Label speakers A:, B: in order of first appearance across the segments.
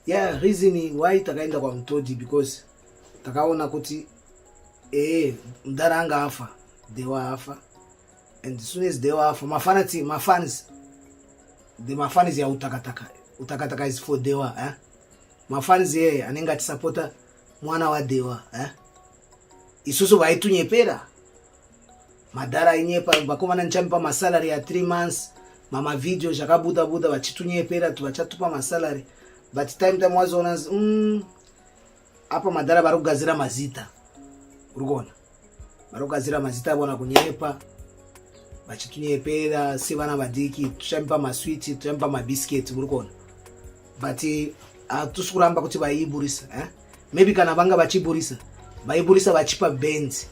A: Yeah, reason why takaenda kwa Mutodi because takaona kuti eh mdara anga afa, they were afa. And as soon as they were afa, mafans mafans the mafans ya utakataka. Utakataka is for they were, eh? Mafans yeye anenge atisapota mwana wa they were, eh? Isusu vaitunyepera. madhara ainyepa vakomana ndichamupa masalary ya three months mama video zvakabuda buda vachitunyepera kuti vachatupa masalary but time time wazoona mm, apa madhara vari kugadzira mazita uri kuona vari kugadzira mazita avona kunyepa vachitunyepera sevana vadiki tichamipa maswiti tichamipa mabhisiketi muri kuona but eh, hatusi kuramba kuti vaiiburisa eh? maybe kana vanga vachiburisa vaiburisa vachipa benzi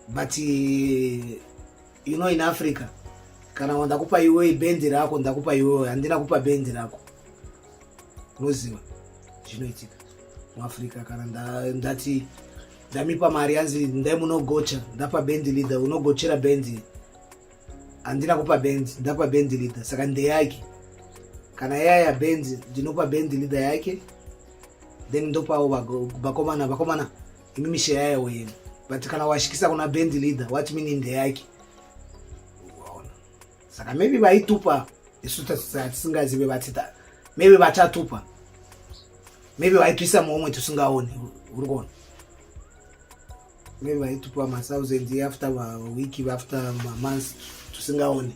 A: but eh, you know in africa kana ndakupa iwe bendi rako ndakupa iwe handina kupa bendi rako unoziva zvinoitika muafrica kana ndati ndamipa mari yanzi ndai munogocha ndapa bendi leader unogochera bendi handina kupa bendi ndapa bendi leader saka ndeyake kana yaya bendi ndinopa bendi leader yake then ndopawo vakomana vakomana imi mishe yayo yemi but kana washikisa kuna band leader what meaning ndeyake waona saka maybe vaitupa isu tisingazive vatita maybe vachatupa maybe vaitwisa muomwe tisingaoni uri kuona maybe vaitupa mathousand after week after mamonth tisingaoni